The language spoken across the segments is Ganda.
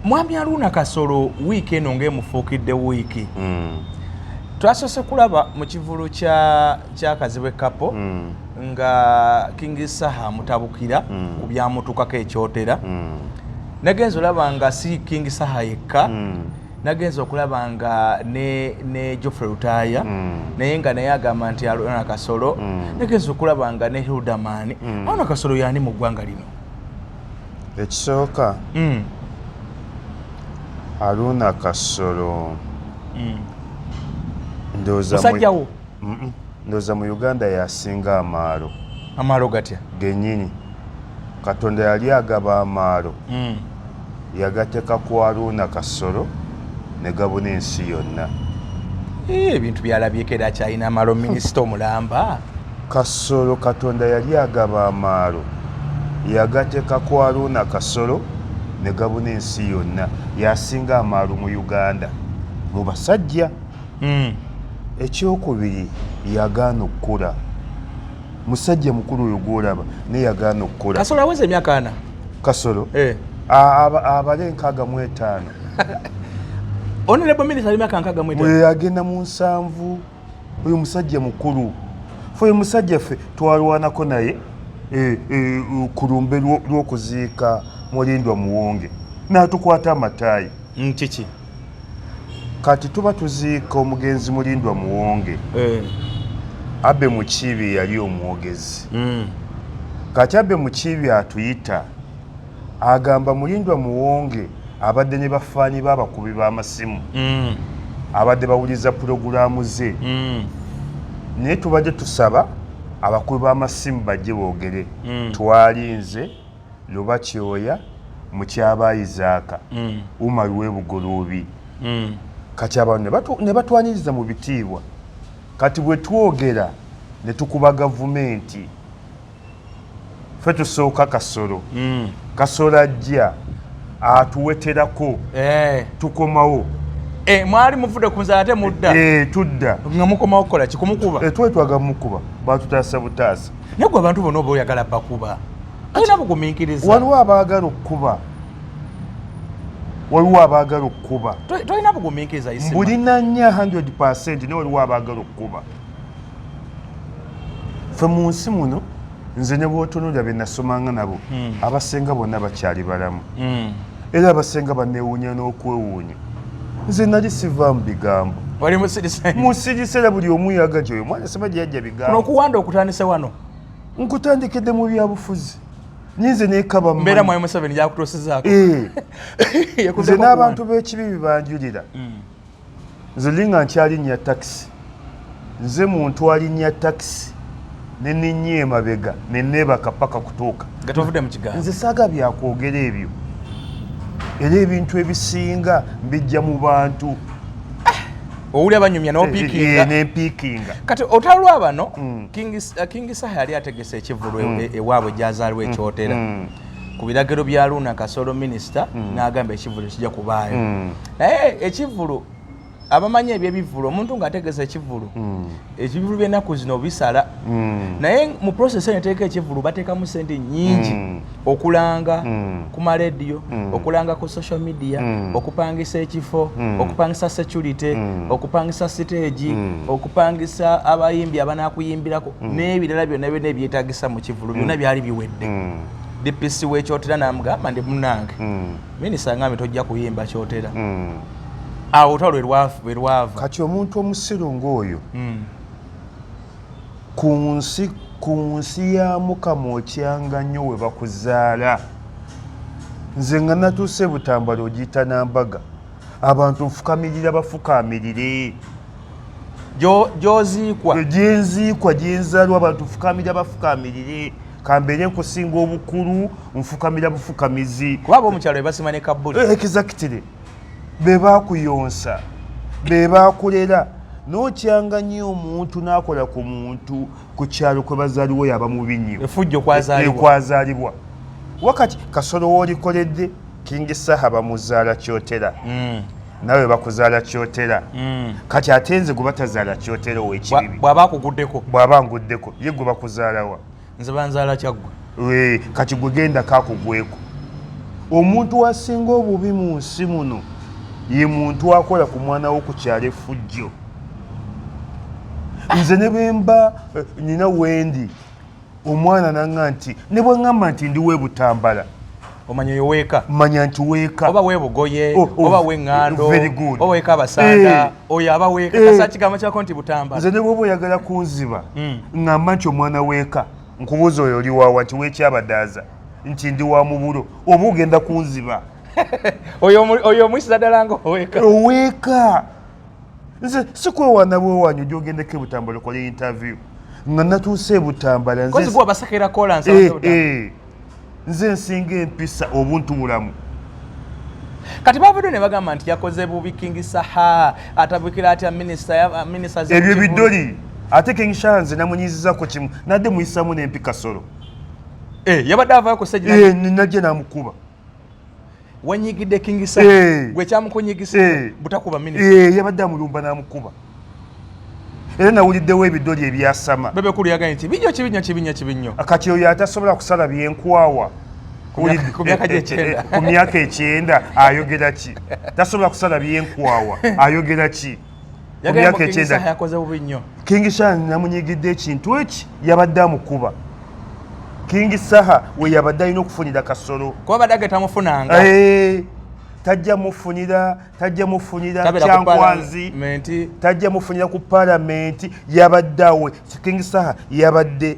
mwami aruuna kasolo wiiki eno ngaemufuukidde wiiki mm. twasose kulaba mu kivulu kyakazibwe kapo mm. nga king saha mutabukira mm. ku byamutukako ekyotera mm. nagenza olaba nga si king saha yekka mm. nagenza okulaba nga ne, ne joffrey lutaya mm. naye nga naye agamba nti alona kasolo mm. nagenza okulaba nga ne hildaman mm. alona kasolo yani mu ggwanga lino ekisooka mm. aruuna kasolo mm. ndoozamusajjawo ndooza mu uganda yasinga amaalo amaalo gatya genyini katonda yali agaba amaalo mm. yagateka ku aruuna kasolo ne gabuna ensi yonna eh, ebintu byalabyeko era kyalina amaalo minisita omulamba Kasolo Katonda yali agaba amaalo, yagateka ku Aruuna Kasolo ne gabuna ensi yonna. Y'asinga amaalo mu Uganda mu basajja. Eky'okubiri yagaana okukula. Musajja mukulu oyo gw'olaba naye yagaana okukula. Kasolo aweza emyaka ana? Kasolo? Eh. abale nkaga mwetano onelebo minister alimaka nkaga mwetano agenda munsanvu oyo musajja mukulu fe oyo musajja ffe twalwanako naye eh, eh, ku lumbe lw'okuziika mulindwa muwonge n'atukwata amataayi mm, kiki kati tuba tuziika omugenzi mulindwa muwonge eh. abe mukiibi yali omwogezi mm. kati abe mukiibi atuyita agamba mulindwa muwonge abadde ne bafaani b'abakubi b'amasimu mm. abadde bawuliriza pulogulaamu ze mm. naye tubadde tusaba abakubi b'amasimu bajje boogere mm. twali nze luba kyoya mukyaba isaaka umar webugoloobi kati abantu ne batwaniriza mu bitiibwa kati bwe twogera ne tukuba gavumenti fe tusooka kasolo mm. kasolo ajja atuweterako eh. tukomawo eh, mwali muvude kunzala ate mudda eh, tudda nga mukomawo kukola kikumukuba twali twaga mukuba batutaasa butaasa naye gwe abantu bona oba oyagala bakuba alina bugumiikiriza waliwo abaagala okukuba waliwo abaagala okukuba tolina bugumiikiriza mbulina nya 100 naye waliwo abaagala okukuba fe mu nsi muno nze ne bwotunulira bye nasomanga nabo hmm. abasinga bonna bakyali balamu hmm. era abasinga banewuunya n'okwewuunya nze nali siva mu bigambo musirise era buli omu yaga gyoyo mwana sema gye yajja bigambonokuwanda okutandise wano nkutandikidde mu byabufuzi nyinze nekabambeera mwayi museveni yakutuusizaako eh. nze n'abantu b'ekibi bibanjulira hmm. nze ndi nga nkyalinnya takisi nze muntu alinnya takisi neninnya emabega neneebaka paka kutuuka nze saaga byakwogera ebyo era ebintu ebisinga mbijja mu bantu eh, owuli abanyumya nempiikinga eh, eh, kati otalwa bano mm. kingi saha yali ategese ekivulu mm. e- ewaabwe gyazaalwa mm. ekyotera ku biragiro bya luuna kasolo minisita n'agamba ekivulu kijja kubaayo naye ekivulu abamanyi ebyebivulu omuntu nga ategeza ekivulu hmm. ekivulu byenaku zino bisala hmm. naye mu process eyo neteeka ekivulu batekamu sente nyingi hmm. okulanga ku marediyo okulanga ku social media okupangisa ekifo okupangisa security okupangisa siteegi okupangisa abayimbi abanakuyimbirako n'ebirala byonna byona ebyetagisa mu kivulu byona byali biwedde dpc wekyotera namugamba ndi munange Minisita ngambye tojja kuyimba kyotera hmm. awo otwa lwe lwava kati omuntu omusiru ng'oyo hmm. ku nsi ku nsi ya mukama okyanga nnyo we bakuzaala nze nga natuuse butambala ogiyita nambaga abantu nfukamirira bafukamirire gyoziikwa gyenziikwa gyenzaalwa abantu nfukamirira bafukamirire kambeere nkusinga obukulu nfukamira bufukamizi kuba abomukyalo bebasima ne kabuli eh, exactly bebakuyonsa bebakulera nokyanga nyo omuntu nakola ku muntu ku kyalo kwe bazaliwo yaba mubi nyo efujjo kwazalibwa wakati kasolo wolikoledde kingi saha bamuzaala kyotera mm. nawe bakuzaala kyotera mm. kati ate nze gwe batazaala kyotera owekibibi bwaba akuguddeko bwaba nguddeko ye gwe bakuzaalawa nze banzaala kyaggwe kati gwe genda kakugweko omuntu asinga obubi mu nsi muno ye muntu akola ku mwana wo ku kyalo efujjo nze ne bemba eh, nina wendi omwana nanga nti ne bwe ŋŋamba nti ndi we butambala omanya oyo weeka manya nti weeka oba webugoye oh, oh, oba weŋŋando oba weeka abasanda eh. oyo aba weeka eh. kasa kigambo kyako nti butambala nze ne bwoba oyagala kunziba hmm. ŋŋamba nti omwana weeka nkubuuza oyo oli waawa nti weekyabadaaza nti ndi wa mubulo oba ogenda kunziba oyo omuyisiza ddala nga oweeka oweeka nze sikwewaana bwewaanyi oja ogendeko ebutambala okola interview nga natuuse ebutambala eh, eh. nze nsinga empisa obuntu bulamu kati bavudde ne bagamba nti yakoze bubi king saha atabukira atya ebyo bidoli ate king saha nze namunyizizako kimu nadde muyisamu nempi kasolo eh, yabadde avayokosajnaje namukuba wanyigidde kingisa eh. gwe kyamukunyigisa eh. butakuba minisita eh, yabadde amulumba n'amukuba era nawuliddewo ebidoli ebyasama bebe kulu yagaye nti binyo kibinyo kibinyo kibinyo kati oyo atasobola kusala byenkwawa ku myaka ekyenda ayogera ki tasobola kusala byenkwawa ayogera ki kingi saha namunyigidde ekintu eki yabadde amukuba kingi saha we yabadde alina okufunira kasolo kuba badde agetamufunanga eh, tajja mufunira tajja mufunira kyankwanzi tajja mufunira ku palamenti yabadde awe kingi saha yabadde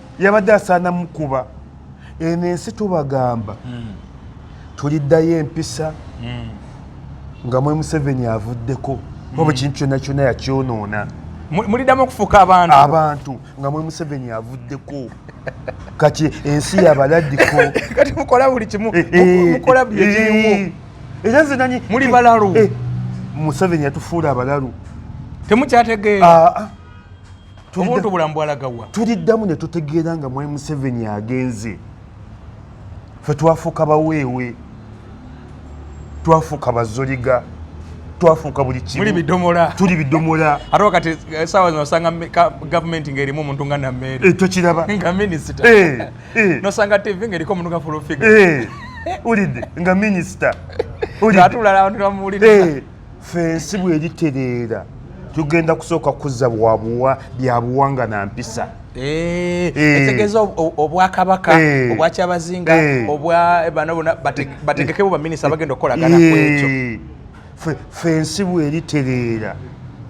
yabadde asaana mukuba eno ensi tubagamba hmm. tuliddayo empisa hmm. nga mwe museveni avuddeko hmm. oba ekintu kyonna kyonna yakyonoona muliddamu okufuuka abantu abantu nga mwe museveni avuddeko kati ensi yabaladdiko kati mukola buli kimu eh, eh, mukola buli ekimu eh, era nze nanyi muli balalu museveni yatufuula abalalu temukyategeera ah, ah. tubuntu obulamu bwalagawa tuliddamu ne tutegeera nga mwai museveni agenze fe twafuuka baweewe twafuuka bazoliga twafuuka buli kimuli bidomola tuli bidomola ate wakati eh, sawa zino osanga gavumenti ng'erimu omuntu nga nameere eh, tokiraba nga minisita eh, nosanga tv ng'eriko omuntu nga fulufiga ulidde nga minisita atulala abantu bamuwulira ffe ensi bweritereera tugenda kusooka kuzza bwabuwa byabuwanga na mpisa eh, eh. etegeeza obwakabaka eh. obwakyabazinga obwabano bona bategekebo baminisita bagenda okukolagana kwekyo ffe ensi bweritereera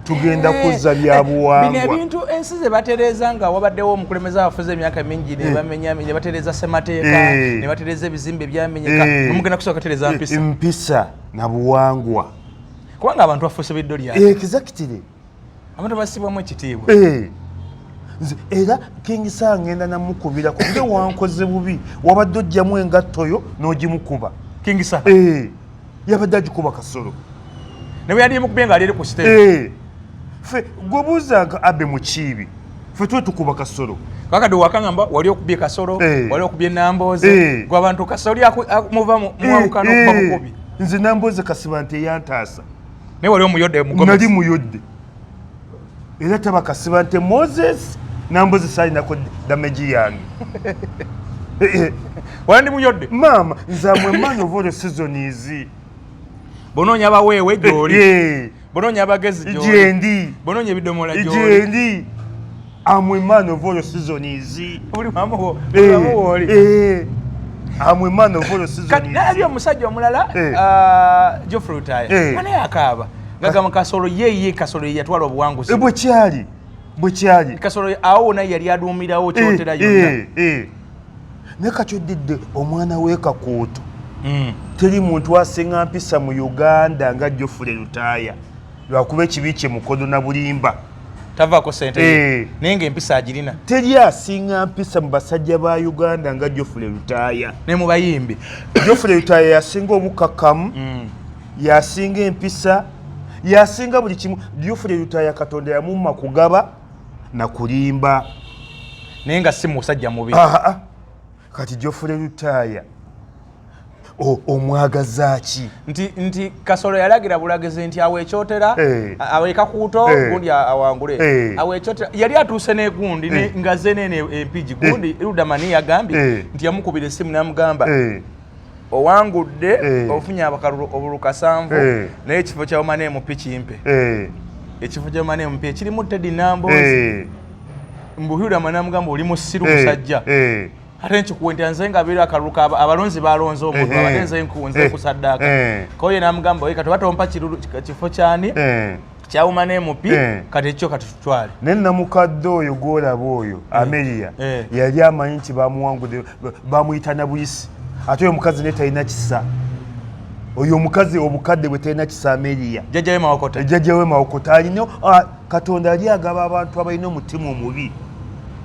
tugenda eh, kuzza eh, byabuwangwa bino ebintu ensi ze batereeza nga wabaddewo omukulembeze abafuze emyaka mingi eh. nebamenya ne batereeza ssemateeka ne batereeza ebizimbe ebyamenyeka nomugenda kusooka tereeza mpisa mpisa na buwangwa kubanga abantu bafuuse biddo lya eh, exactly abantu basibwamu ekitiibwa eh. nze era kingisa ngenda namukubira kubye wankoze bubi wabadde ojjamu engattoyo n'ogimukuba kingisa eh. yabadde agikuba kasolo nawe yali mukubye nga aliri ku stage fe gwebuuzanga abe mukiibi ffe tuwe tukuba kasolo kakati wakangamba wali okubye kasolo hey. Eh. wali okubye nambooze hey. Eh. gwe abantu kasoli muva muwalukana hey. okuba bukubi nze nambooze kasiba nti eyantaasa naye wali omuyodde nali muyodde era taba kasiba nti moses nambooze salinako dameji yange eh, wala ndi muyodde maama nze amwe man of all the season is bonoonya baweewe gyoli bononya abagezi jendi bononya ebidomola jendi am a man of all season is uli mama wo uli mama wo uli eh am a man of all season is kati nabi omusajja omulala eh. ah, Geoffrey Utaya eh. ana yakaba gagama kasolo ye ye kasolo ye yatwala obuwanguzi ebwe eh, kyali bwe kyali kasolo awo na yali adumirawo kyotera yonna eh eh naye kati oddidde omwana wekakuutu hmm. teri muntu asinga mpisa mu uganda nga jofule lutaaya lwakuba ekibi kye mukodo na bulimba tavako sente eh. naye nga empisa agirina teri asinga mpisa mu basajja ba uganda nga jofule lutaaya ne mu bayimbi jofule lutaaya yasinga obukakamu hmm. yasinga empisa yasinga buli kimu jofule lutaaya katonda yamumma kugaba nakulimba naye nga si musajja mubi kati jofule lutaaya omwagaza ki nti nti kasolo yalagira bulagizi nti awo ekyotera eh. awo ekakuuto eh. gundi awangule eh. awo ekyotera yali atuuse negundi nga zenene empigi gundi ludamani yagambye nti yamukubira esimu namugamba owangudde eh. ofunye abakalulu obulu kasanvu eh. naye ekifo kya omane emupi kimpe eh. ekifo kya omane emupi ekirimu tedi nambo mbuhira amana mugamba oli musiru musajja ate nkikuwa nti nze nga beera akalulu ka abalonzi balonze omuntu abatenze nkunze kusaddaka koye namugamba oye kati oba tompa kifo kyani kyawuma nemupi eh. kati ekyo katutwale naye namukadde oyo gwolaba oyo eh. ameria eh. yali amanyi nti bamuwangude bamuyita na buyisi ate oyo mukazi naye talina kisa oyo omukazi obukadde bwe talina kisa ameria jajjawe mawokota jajjawe mawokota alina ah, katonda ali agaba abantu abalina omutima omubi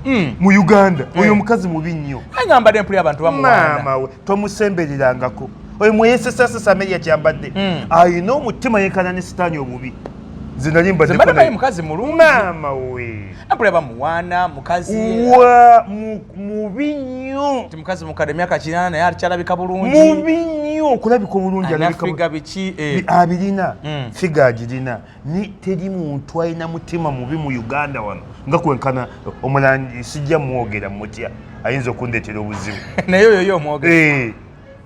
hmm. mu uganda oyo omukazi mubi nnyo agamba dempuli abantu bamuwana tomusembererangako oyo mweyesesasesa meria kyambadde hmm. ayina omutima yenkana ne sitaani obubi mukazi mulumama we abula bamuwana mukazi wa mubi nnyo ti mukazi mukadde myaka kinana naye akyalabika bulungi mubi nnyo okulabika obulungi alabika biki eh. abirina hmm. figa agirina ni teri muntu alina mutima mubi mu uganda wano nga kwenkana omulangi sijja mwogera mutya ayinza okundetera obuzibu naye oyo yo omwogera eh,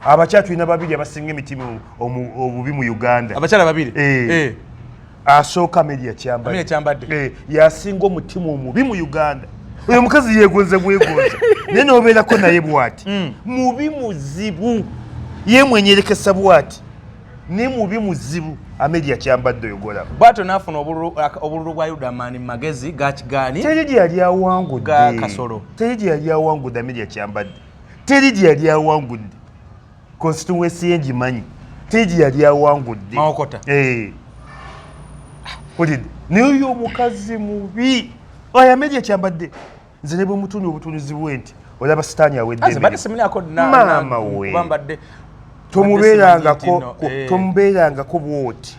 abakyala tulina babiri abasinga emitima obubi mu uganda abakyala babiri eh. Eh. asooka meri yakyambadde yasinga omutima omubi mu uganda oyo mukazi yegonze bwegonze naye nobeerako naye bwati hmm. mubi muzibu yemwenyerekesa bwati ni mubi muzibu amedia kyambadde oyogolako bwato nafuna obululu bwa yuda mani magezi gakigani teri gye yali awangudde kasolo teri gye yali awangudde amedia kyambadde teri gye yali awangudde constituency ye ngimanyi teri gye yali awangudde mawokota eh. ulidde naye oyo omukazi mubi oyo amedia kyambadde nze ne bwemutuunya obutuunizi bwe nti olaba sitaani aweddeemaama we tomubeerangako eh. tomubeerangako bwoti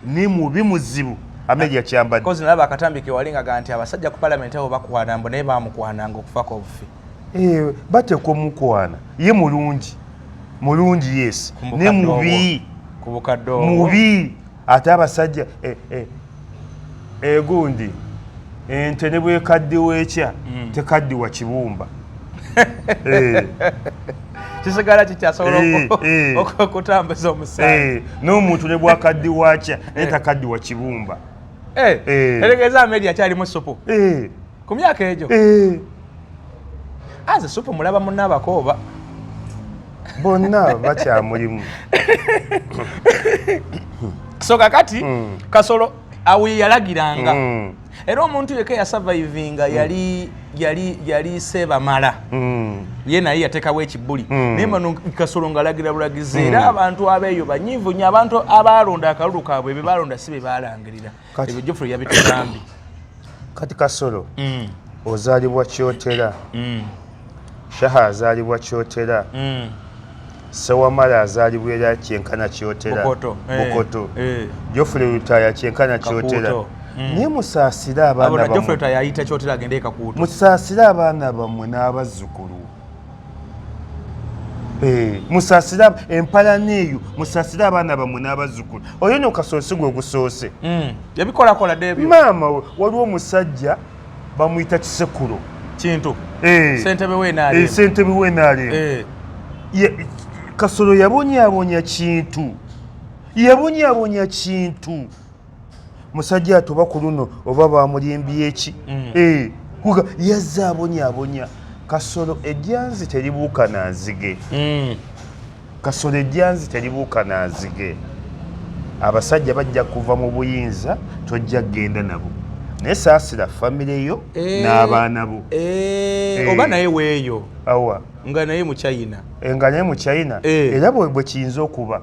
ni mubi muzibu ameja kyambadde kozi nalaba akatambi kewali nga ganti abasajja ku palamenti abo bakwana mbu naye bamukwananga okufako obufi eh, bateekwa omukwana ye mulungi mulungi yes ne mubi mubi ate abasajja eh, eh, egundi ente ne bwekaddiwa ekya mm. tekaddiwa kibumba eh. kisigala kikyasobola okutambuza omusaayi n'omuntu ne bwakaddiwa kya naye takaddiwa kibumba eregeeza ameeri akyalimu supu ku myaka egyo eh. aze ah, supu mulaba munna abakooba bonna bakyamulimu so kakati mm. kasolo awi yalagiranga mm. era omuntu yeka yasavaivinga hmm. yali yali yali sebamala hmm. ye naye yatekawo ekibuli hmm. naye mano kasolo ngalagira bulagizi era abantu abeeyo banyivu nyo abantu abaalonda akalulu kaabwe be baalonda si be baalangirira ebyo jofre yabitugambye kati kasolo mm. ozalibwa kyotera mm. shaha azalibwa kyotera mm. sewamala azalibwa era kyenkana kyotera bukoto eh, eh. jofre lutaya kyenkana kyotera Mm. naye musaasire abaana bammwe musaasire abaana bammwe n'abazzukulu Eh, musasire empalana eyo musasire abaana bamwe n'abazzukulu oyo no kasoose gwe gusoose hmm. ebikolakola debyo maama we waliwo omusajja bamuyita kisekulo kintu eh. sentebe wenaalemu eh, kasolo yabonyabonya kintu yabonyabonya kintu musajja atoba ku luno oba bamulimbye eki mm. eh, kuga yazza abonyabonya kasolo ejjanzi teribuuka na nzige mm. kasolo ejjanzi teribuuka na nzige abasajja bajja kuva mu buyinza tojja kugenda nabo naye saasira famire yo eh, n'abaana bo eh, eh. oba naye weeyo awa nga naye muchina nga naye muchina era bwe kiyinza okuba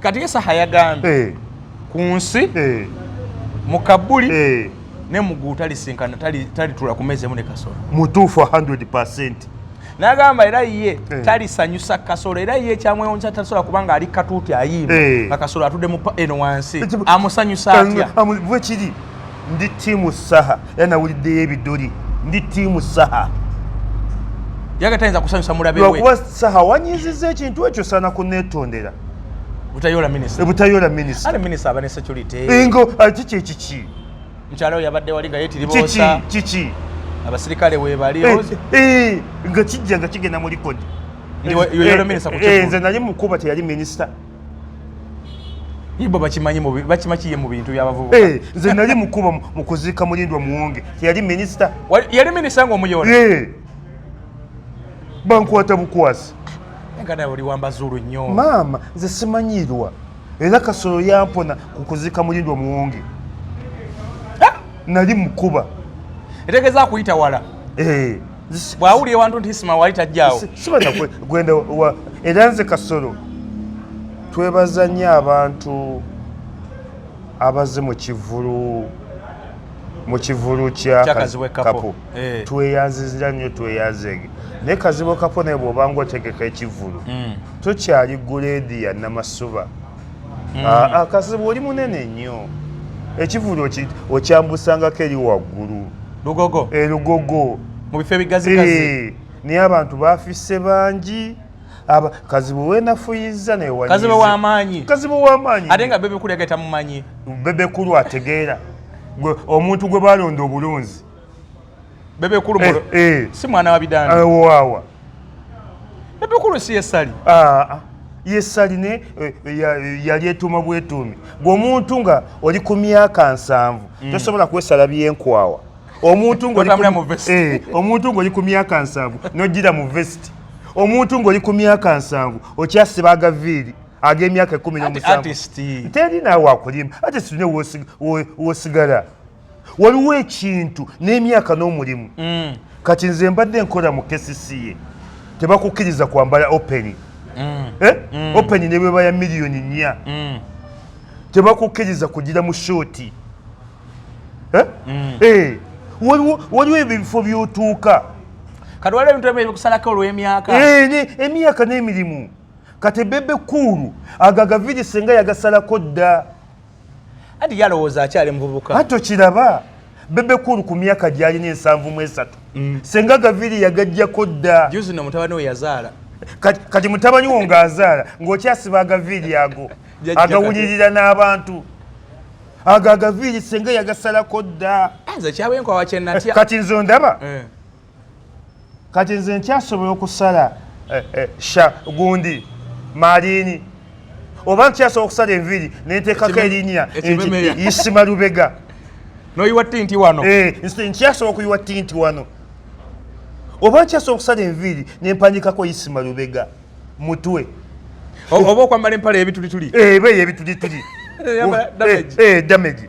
kati esaha yagambye eh. ku nsi eh. mu kabuli eh. ne mugulu talisinkana talitula ku mezi emu ne kasolo mutuufu 100 percent nagamba era ye eh. talisanyusa kasolo era ye kyamwewunyisa tasobola kubanga ali katuuti ayimba eh. nga kasolo atudde eno wansi amusanyusa atya bwekiri ndi tiimu saha era nawuliddeyo ebidoli ndi tiimu saha yagatayinza kusanyusa mulabewakuba saha wanyiziza ekintu ekyo sana kunetondera butayola minisita butayola minisita ale minisita aba ne security ingo ati kye kiki mukyala oyo yabadde wali nga yetiribosa kiki kiki abasirikale webali eh, eh, nga kijja nga kigenda mu likodi eh, nze nali mukuba teyali minisita ibo bakimanyi mu bakima kiye mu bintu byabavubuka eh nze nali mukuba mu kuzika mulindwa muwonge yali minister yali minister ngo muyona eh bankwata bukwasi ngada oli wamba zuru nyo mama nze simanyirwa era kasoro yampona ku kuzika mulindwa muwonge nali mukuba etegeza kuyita wala eh bwawulira ewantu nti isma wali tajjaawo gwenda era nze kasolo twebaza nnyo abantu abaze mu kivulu mu kivulu kya kazibwe kapo eh. tweyanzizira nnyo tweyanzege naye kazibwe kapo naye bwobanga otegeka ekivulu mm. tokyali guleedi ya namasuba mm. ah, ah, kazibu oli munene nnyo ekivulu okyambusangako eri waggulu lugogo elugogo eh, mu bifo ebigazigazi eh, naye abantu bafisse bangi kazibu wenafuyiza newakazibu wamaanyi kazibu wamaanyi ate nga bebekulu yageta mumanyi bebekulu ategeera omuntu gwe balonda obulunzi bebe kulu eh, eh. si mwana wa bidani eh, wawa bebe kulu si yesali ah, ah. yesali ne eh, eh, yali etuma bwetumi gwomuntu nga oli ku myaka nsanvu mm. tosobola kwesala byenkwawa omuntu ngomuntu ngoli ku myaka nsanvu nojira mu vesti omuntu ngoli ku myaka nsanvu okyasiba agaviiri ag'emyaka ekumi nomusanvu teri naawe akulima ate sine wosigala waliwo ekintu n'emyaka n'omulimu mm. kati nze mbadde nkola mu kesisiye tebakukkiriza kwambala openi mm. eh? mm. openi ne bweba ya miliyoni nnya mm. tebakukkiriza kugira mu shooti eh? mm. eh. waliwo ebyo ebifo byotuuka kati waliwo ebintu ebyo bikusalako olw'emyaka eh, emyaka n'emirimu kati bebe kuulu ago agaviiri senga yagasalako dda anti yalowooza akyali muvubuka ate okiraba bebe kulu ku myaka gyalina ensanvu mu esatu mm. senga gaviri yagajjako dda juzi no mutabani we yazaala kati mutabani wo ng'azaala ng'okyasiba agaviiri ago agawulirira n'abantu ago agaviiri senga yagasalako dda ah, kati nze ondaba eh. kati nze nkyasobola okusala eh, eh, sha gundi malini oba nkyasobola okusala enviri nentekako erinya isima lubega noyiwa tinti wano eh, nkyasobola okuyiwa tinti wano oba nkyasobola okusala enviiri nempanyikako isima lubega mutwe oba okwambala empala ebitulituli ebeyo ebitulituli damage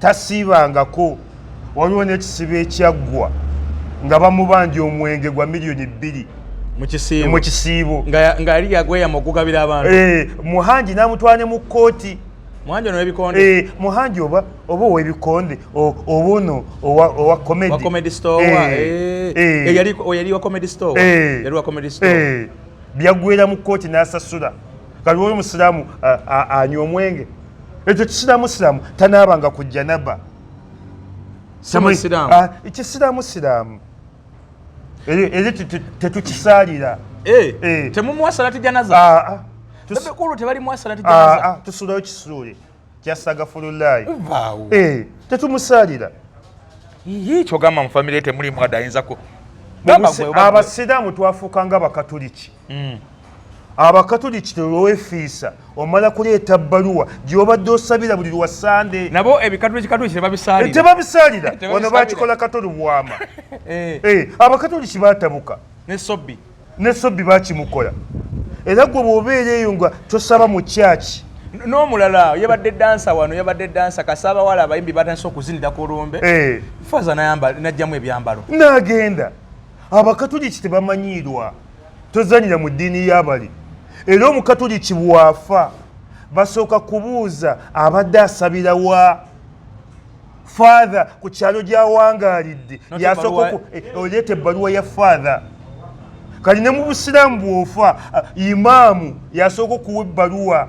tasiibangako waliwo n'ekisibo ekyaggwa nga bamubanja omwenge gwa miliyoni bbiri mu kisiibo nga yali yagweyama okugabira abantu eh, muhangi n'amutwala ne mu kkooti muhanji ono webikonde eh muhanji oba oba webikonde obono owa owa comedy wa comedy store eh, wa eh, eh. eh yali oyali wa comedy store eh. yali wa comedy store eh byagwera mu court nasasura kaliwo oyo musiraamu anywa omwenge ekyo kisiraamu siraamu tanaabanga ku janaba kisiraamu siraamu eri tetukisaalira eh, eh. temumuwa salati janaza ah, ah. bebekulu tebalimuwa salati janaza ah, tusulayo kisuule kyasagafululayi eh, tetumusaalira kyogamba mu famire temulimu adayinzako abasiraamu twafuuka nga bakatuliki mm. abakatoliki tewefiisa omala kuleeta bbaluwa gyobadde osabira buli lwa sande nabo ebikatolitebabisaalira eh, wano bakikola katoli bwama eh. eh, abakatoliki batabuka nesobbi nesobbi bakimukola era gwe bwobeera eyo nga tosaba mu kyaki n'omulala yabadde dansa wano yabadde dansa kasaba wala abayimbi batandise okuzinira ku lumbe eh. faza najjamu ebyambalo nagenda abakatuliki tebamanyiirwa tozanyira mu ddiini y'abali era omukatuliki bw'afa basooka kubuuza abadde asabira wa faatha ku kyalo gy'awangaalidde yasooka eh, oleeta ebbaluwa ya faatha kati ne mu busiraamu bw'ofa eh, imaamu yasooka okuwa ebbaluwa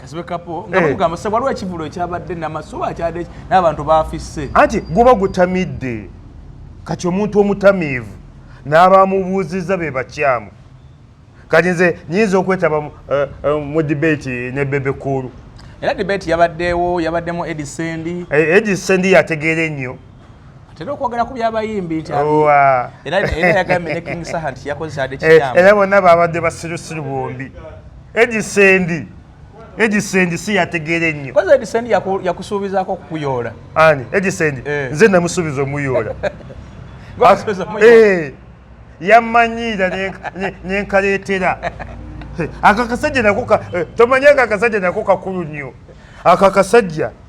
kazibe kapo nga mugamba eh. se waliwo ekivulo ekyabadde namasuba akyade n'abantu baafisse anti guba gutamidde kati omuntu omutamiivu n'abamubuuzizza be bakyamu kati nze nyinza okwetaba mu eh, eh, debate ne bebe kuulu era debate yabaddewo yabaddemu edisendi edisendi yategeera ennyo atera okwogera ku byabayimbi nti era yagambye ne king saha nti yakozesa ade eh, kiyamba era bonna baabadde basirusiru bombi edisendi edisendi si yategeera ennyo koza edisendi yakusuubizaako okukuyoola ani edisendi eh. nze namusuubiza omuyoola eh, yammanyiira nenkaleetera akakasajja nako tomanyanga akasajja nako kakulu nnyo akakasajja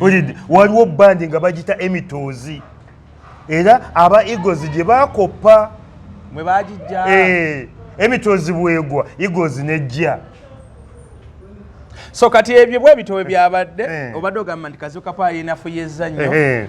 olidde waliwo bandi nga bagita emitoozi era aba eagles gye bakoppa eh, emitoozi bwegwa eagles nejja so kati ebyo bwebitowe byabadde eh. obadde ogamba nti kazuka pa yinafuya ezannyo eh,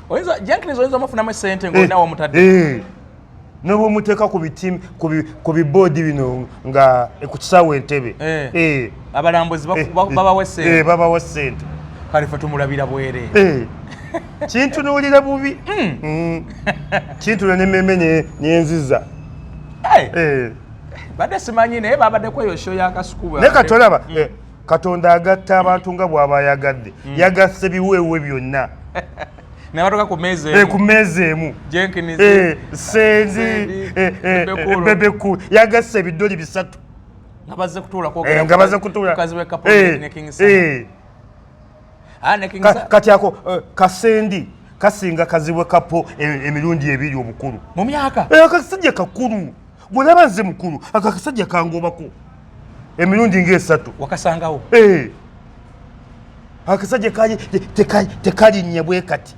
oyinza jenkins oyinza omufunamu esente eh, ngaolinawo omutadde eh. noba omuteeka ku biboodi bino nga eh, ku kisaawa entebe abalambuzi babawa esente babawa esente kale fe tumulabira bwere kintunuulira bubi hmm. Hmm. kintuula nememe nenziza badde simanyi naye babadde kweyo sho yakasukuba naye katolaba hmm. katonda agatta abantu nga bwaba ayagadde mm. yagasse biweewe byonna nabatuka ku meeza emu eh, ku meeza emu jenkins eh, sendi eh, bebeku yagasse ebiddoli bisatu nga bazze kutuula nga bazze kutuula kazi wekapo ne king sir Ah, kati ako eh, kasendi kasinga kazibwe kapo eh, emirundi ebiri obukulu mu myaka eh, akasajja kakulu bwolaba nze mukulu ako akasajja kangobako emirundi ngaesatu wakasangawo akasajja tekalinnye bwe kati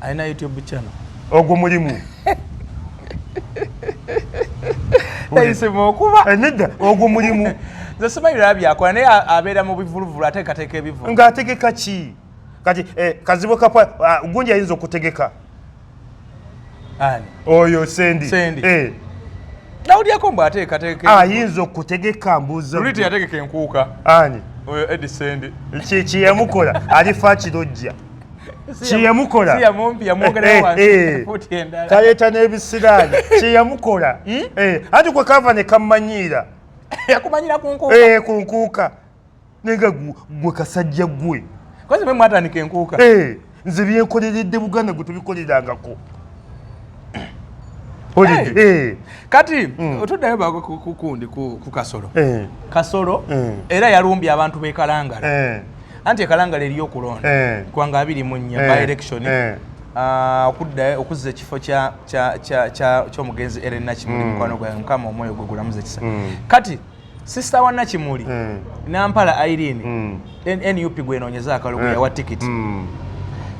alina youtube channel ogwo mulimu nayisemaokubanedda eh, ogwo mulimu nze simanyi laba byakola naye abeera mu bivuluvulu ateekateeka ebivulu ng'ategeka ki kati eh, kazibu kapwa ah, gunji ayinza okutegeka oyo sendi eh. nawulyako mbu ateekateeka ayinza okutegeka mbuuza luli teyategeka enkuuka ani oyo edi sendi kyeyamukola alifa kirojja kyeyamukola taleeta n'ebisiraani kyeyamukola anti kwe kava ne kammanyiira yakumanyira ku nkuuka naye nga gwe kasajja gwe kozi mwe mwatandika enkuuka eh, nze byenkoleredde buganda gwe tubikolerangako eh. kati hmm. otuddayo bakukundi ku kasolo eh. kasolo era yalumbye abantu bekalangala anti ekalangala eriyo okulonda eh. kwanga abiri mu nnya eh. by election eh. ah, okudda okuzza ekifo ky'omugenzi eren nakimuli hmm. mukwano gwae mukama omwoyo gwe gulamuza ekisa hmm. kati sisita wa nakimuli hmm. nampala irene nup gwenonyeza akalugu yawa tikiti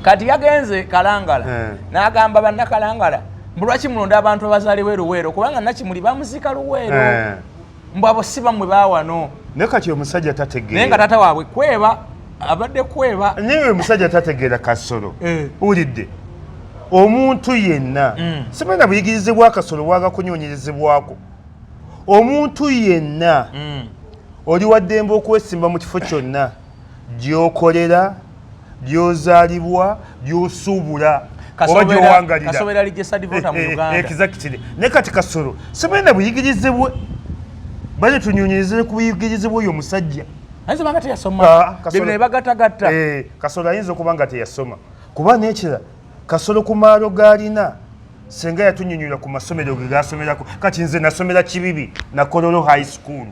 kati yagenze kalangala nagamba banakalangala mbulwaki mulonda abantu abazaliwo eruweero kubanga nakimuli bamuziika luweero mbu abo si bamwe bawano naye kati omusajja tategeera naye nga taata waabwe kweba abadde kweba naye omusajja tategeera kasolo eh. ulidde omuntu yenna mm. simanya buyigirize bwakasolo bwagakunyonyerezebwako omuntu yenna mm. oli waddembe okwesimba mu kifo kyonna gyokolera gyozaalibwa gyosuubula oba gyowangaliraekizakitire naye kati kasolo sibalina buyigirize bwe bale tunyonyerezere ku buyigirize bwoyo omusajja nebagatagatta ah, eh, kasolo ayinza okuba nga teyasoma kuba nekira kasolo ku maalo galina senga yatunyonyola ku masomero ge gasomerako kati nze nasomera kibibi nakololo high school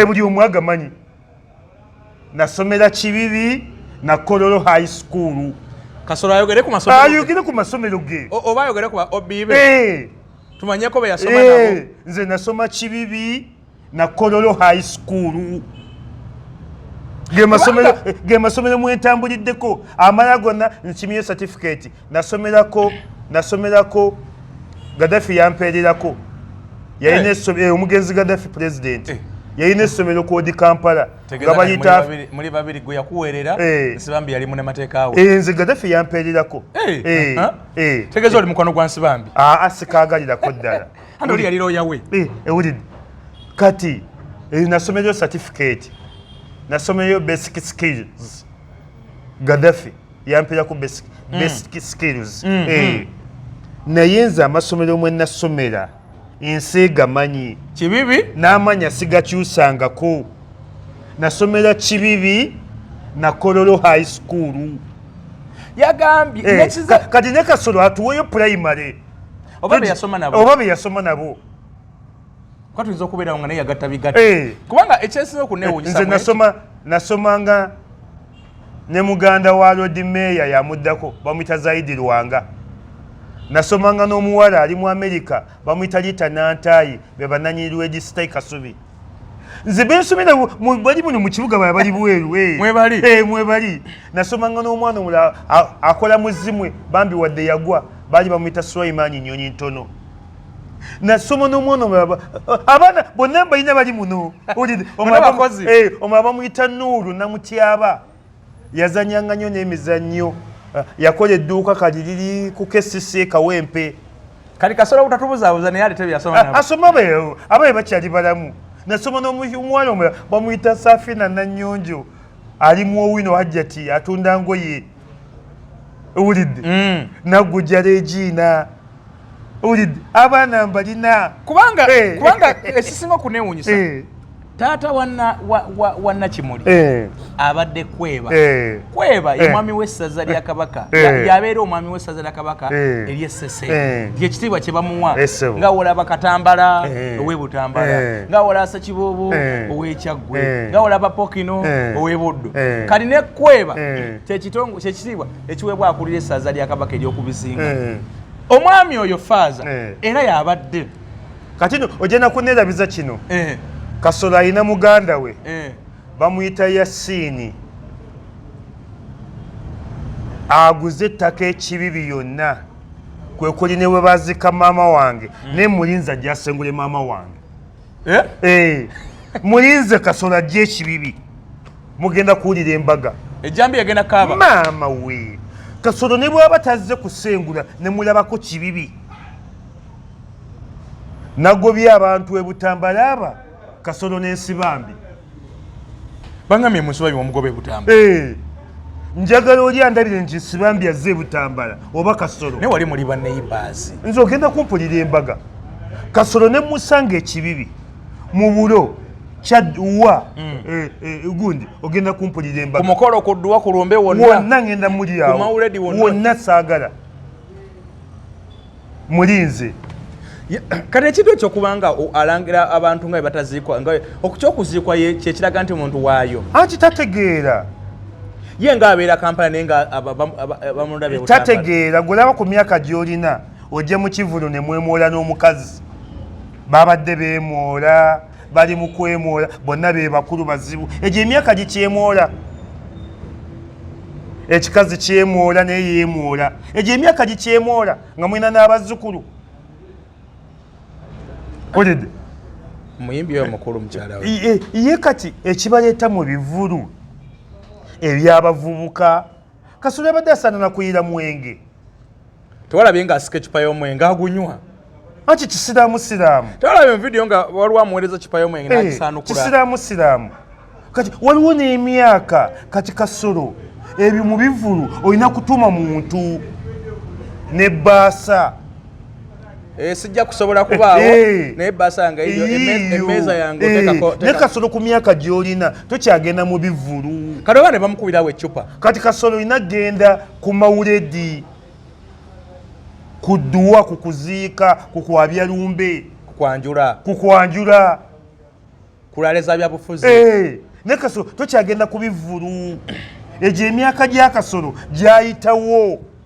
buli omwagamanyi eh, nasomera kibibi na kololo high school kasolo ayogere ku masomero ayogere ku masomero ge oba ayogere ku obibe eh tumanye ko yasoma eh, nabo eh nze nasoma kibibi na kololo high school ge masomero ge masomero mu entambuliddeko amala gonna nkimye certificate nasomerako nasomerako gadafi yampeererako yalina eh. esomero eh, omugenzi gadafi president eh. yalina essomero kodi kampala nga bayita muli babiri gwe yakuweerera nsibambi yali munamateeka we nze gadafi yampeererako tegeeza oli mukwano gwa nsibambi aa ah, ah, sikaagalirako ddala andi oli yali looya we ewulidde kati nasomereyo certificate nasomereyo basic skills gadafi yampera ku basic mm. skills mm-hmm. eh. naye nze amasomero mwe nasomera ensi gamanyi kibibi n'amanya sigakyusangako nasomera kibibi na kololo high school yagambye eh, nekiza kati ne kasolo atuweyo primary oba be yasoma nabo oba be yasoma nabo kwa tuzo kubera ngane yagatta bigata eh. kubanga ekyesizo kunewunyisa eh, nze nasoma nasoma nga ne muganda wa lodi meeya yamuddako bamuyita zaidi lwanga nasomanga n'omuwala ali mu amerika bamuyita lita nantaayi be bananyini lwedi sitai kasubi nze bensomera bali muno mu kibuga bala bali bweru eh. eh, mwebali nasomanga n'omwana omulala akola muzimwe bambi wadde yagwa baali bamuyita sulaimani nyonyi ntono nasoma n'omwana omulaba abaana bonna mbalina bali muno eh, omulaba bamuyita nuulu namutyaba yazanyanga nnyo n'emizannyo ah, yakola edduuka kali liri ku kesisi kawempe kali kasobola obutatubuzabuza naye alete byasoma ah, asoma abaye bakyali balamu nasoma n'omuwala omulala bamuyita safina nanyonjo ali mu owino hajjati atunda ngoye owulidde mm. nagujala egiina owulidde abaana mbalina kubanga eh. kubanga ekisinga okunewunyisa eh. taata wanna kimuli eh. abadde kweba kweba ye mwami w'essaza lya kabaka yabeera omwami w'essaza lya kabaka eryessese lyekitiibwa kye bamuwa nga wola bakatambala ow'e butambala nga wola asakibuubu ow'ekyaggu gwe eh. nga olaba pokino eh. owebuddu eh. kati nekkweba kyekitiibwa ekiweebwa akulira essaza lya kabaka eryokubizinga omwami oyo faaza era yabadde kati no ogenda kunerabiza kino kasolo alina muganda we bamuyita yasiini aguze ettaka ekibibi yonna kwekuli ne bwe bazika maama wange mm. naye mulinza gyasengule maama wange Eh? Eh. mulinze kasola ajja ekibibi mugenda kuwulira embaga ejambi yagenda kaaba maama we kasolo ne bwaba tazze kusengula ne mulabako kibibi nagobye abantu ebutambalaaba kasolo n'ensibambi bangambye munsiba biwomugoba ebutamba eh. njagala oli andabire nti sibambi azze ebutambala oba kasolo naye wali muli baneighbors nze ogenda kumpulira embaga kasolo ne musanga ekibibi mu bulo kyaduwa mm. eh, eh, gundi ogenda kumpulira embaga kumukolo kuduwa kulumbe wonna wonna ngenda mulyawo wonna saagala mulinze kati ekintu ekyo kubanga alangira abantu nga bebataziikwa nga okukyokuziikwa kyekiraga nti muntu waayo anti tategeera ye nga abeera kampala naye nga bamulabetategeera gwelaba ku myaka gyolina ojje mu kivulu ne mwemwola n'omukazi babadde bemwola bali mu kwemwola bonna be bakulu bazibu egyo emyaka gikyemwola ekikazi kyemwola naye yemwola egyo emyaka gikyemwola nga mulina n'abazzukulu olede muyimbi oyo mukulu mukyala ye kati ekibaleeta mu bivulu ebyabavubuka kasolo yabadde asaana nakuyiira mwenge tewalabye nga asika ekipa y'omwenge agunywa aki kisiraamu siraamu tewalabye muvidiyo nga waliwo amuweereza kipa y'omwenge eh, nakisaanukula kisiraamu siraamu kati waliwo n'emyaka kati kasolo ebyo mu bivulu olina kutuma muntu ne baasa Eh, sijja kusobola kubaawo eh. naye basanga eyo emmeeza yange eh. otekako naye kasolo ku myaka gy'olina tokyagenda mu bivulu kati oba ne bamukubirawo eccupa kati kasolo olina genda ku mawuledi ku dduwa ku kuziika ku kwabya lumbe kukwanjula kukwanjula kulaaleza byabufuzi naye kasolo tokyagenda ku bivulu egyo emyaka gya kasolo gyayitawo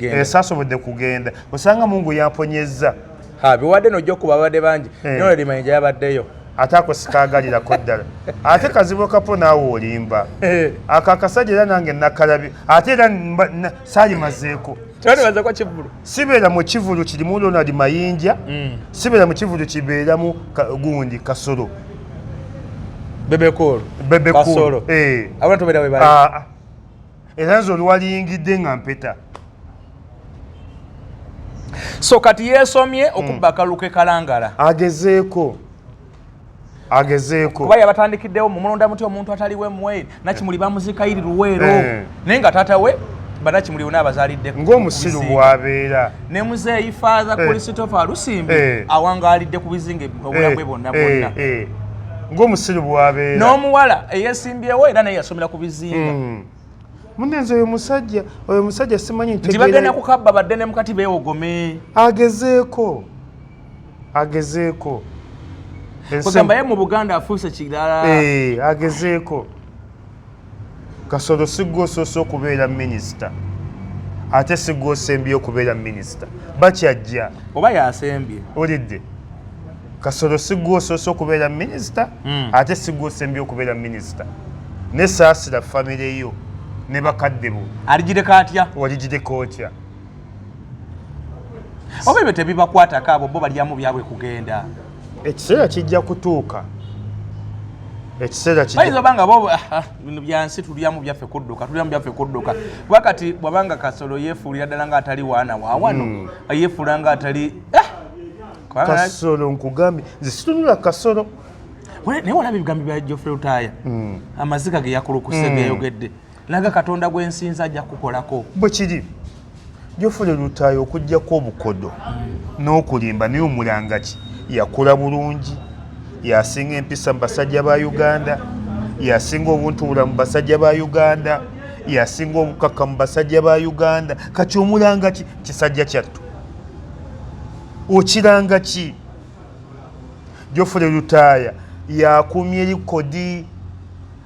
esasobodde kugenda osanga mungu yamponyezza biwadde nojja okuba abadde bangi eh. noladimanija yabaddeyo ate ako sikaagalirako ddala ate kazibu kapo naawe olimba eh. ako akasajja era nange nakalabi ate era salimazeeko sibeera mu kivulu kirimu ronald mayinja mm. sibeera mu kivulu kibeeramu gundi kasolo bebekulu bebekulu eh. abantu beera webae ah, ah. era nze oliwaliyingidde nga mpeta so kati yesomye hmm. okubba akalulu ke kalangala agezeeko agezeeko kuba yabatandikiddewo mumulonda muti omuntu ataliwe mwe nakimuli bamuzika iri luweero eh. naye nga taata we banakimuli wona abazaliddeko ng'omusiru bwabeera ne muzeeyi father eh. christopher alusimbi eh. awangaalidde ku bizinga obulabwe eh. bonna bonna ng'omusiru bwabeera n'omuwala eyesimbyewo era naye yasomera ku bizinga hmm. munenze oyo musajja oyo musajja simanyi nti bagenda kukabba badde ne mukati beewogome agezeeko agezeeko kugamba ye mu buganda afuuse kirala agezeeko kasolo sigwosoose okubeera minisita ate sigwosembye okubeera minisita bakyajja oba yasembye olidde kasolo sigwosoose okubeera minisita hmm. ate sigwosembye okubeera minisita nesaasira famireyo ne bakadde bo aligireka atya waligireka otya oba ebyo tebibakwatako abo bo balyamu byabwe kugenda ekiseera kijja kutuuka ekiseera kiobanga bo ah, ah, bino byansi tulyamu byaffe kudduka tulyamu byaffe kudduka kuba kati bwabanga kasolo yefuulira ddala nga atali waana wawano hmm. yefuula nga atali eh! kasolo nkugambye nze situnula kasolo naye walaba ebigambo bya jofre lutaya hmm. amaziga ge yakulukusa hmm. geyogedde naga katonda gwensinza ajja kukolako bwekiri jofule lutayo okujjako obukodo n'okulimba naye omulangaki yakula bulungi yasinga empisa mu basajja ba uganda yasinga obuntubula mu basajja ba uganda yasinga obukaka mu basajja ba uganda kati omulanga ki kisajja kyattu okiranga ki jofule lutaaya yakumye likodi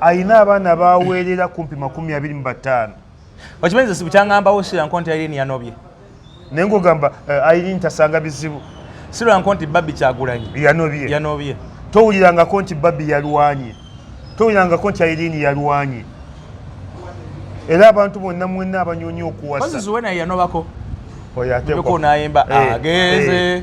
alina abaana baweerera kumpi makumi abiri mu bataano okimanyi ze sibukyangambawo siranko nti airini yanobye naye ngaogamba eh, airini tasanga bizibu siranko nti babi kyagulanyi yanobye yanobye towulirangako nti babi yalwanye towulirangako nti airini yalwanye era abantu bonna mwenna abanyonya okuwasa oyo ate ko nayemba eh, ageze eh.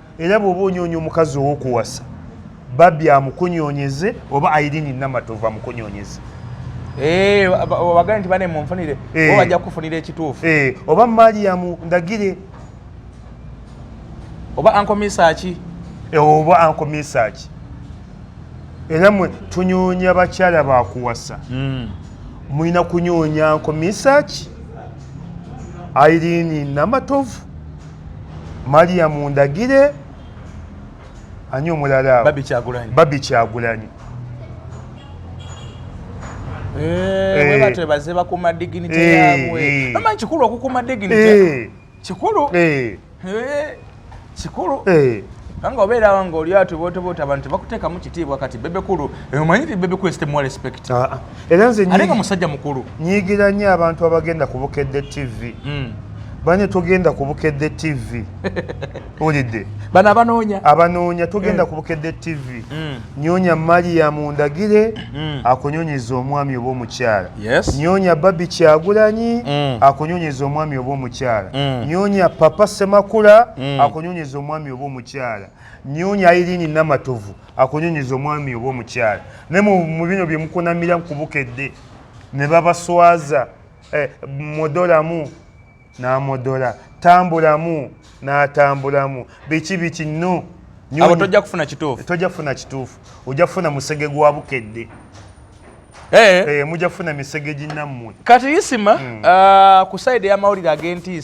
era bwoba onyonya omukazi owokuwasa babi amukunyonyeze oba airini namatovu amukunyonyeze eh, wagala nti bane munfunire eh. bajja kufunira ekituufu eh, oba mariyamu ndagire oba ankomisaki oba ankomisaki era mwe tunyonya bakyala bakuwasa hmm. mulina kunyonya nkomisaki airini namatovu maria mundagire ani omulala babi kyagulanyi webatebaze eh, eh. bakuma dignity eh, yabwe ama kikulu okukuma dignity kikulu kikulu kanga obeera wange oli ati botoboota abantu tebakutekamu kitiibwa kati bebekulu omanyi ti bebekulu sitemwa respect ah, ah. era nze ate nga musajja mukulu nyigira nnyo abantu abagenda ku bukedde tv mm. bane tugenda ku bukedde tv olidde bano abanoonya abanoonya tugenda mm. ku bukedde tv mm. nyonya mariyamu ndagire mm. akunyonyeza omwami oba omukyala yes. nyonya babi kyagulanyi mm. akunyonyeza omwami oba omukyala mm. nyonya papa semakula mm. akunyonyeza omwami oba omukyala nyonya irini namatovu akunyonyiza omwami oba omukyala naye mu bino bye mukunamira ku bukedde ne babaswaza eh, modolamu n'amodola tambulamu n'atambulamu biki biki no abo tojja kufuna kituufu tojja kufuna kituufu ojja kufuna musege gwa bukedde eh. Eh, mujja kufuna misege ginnammwe kati isima hmm. ah, ku saidi y'amawulire ag'entiisa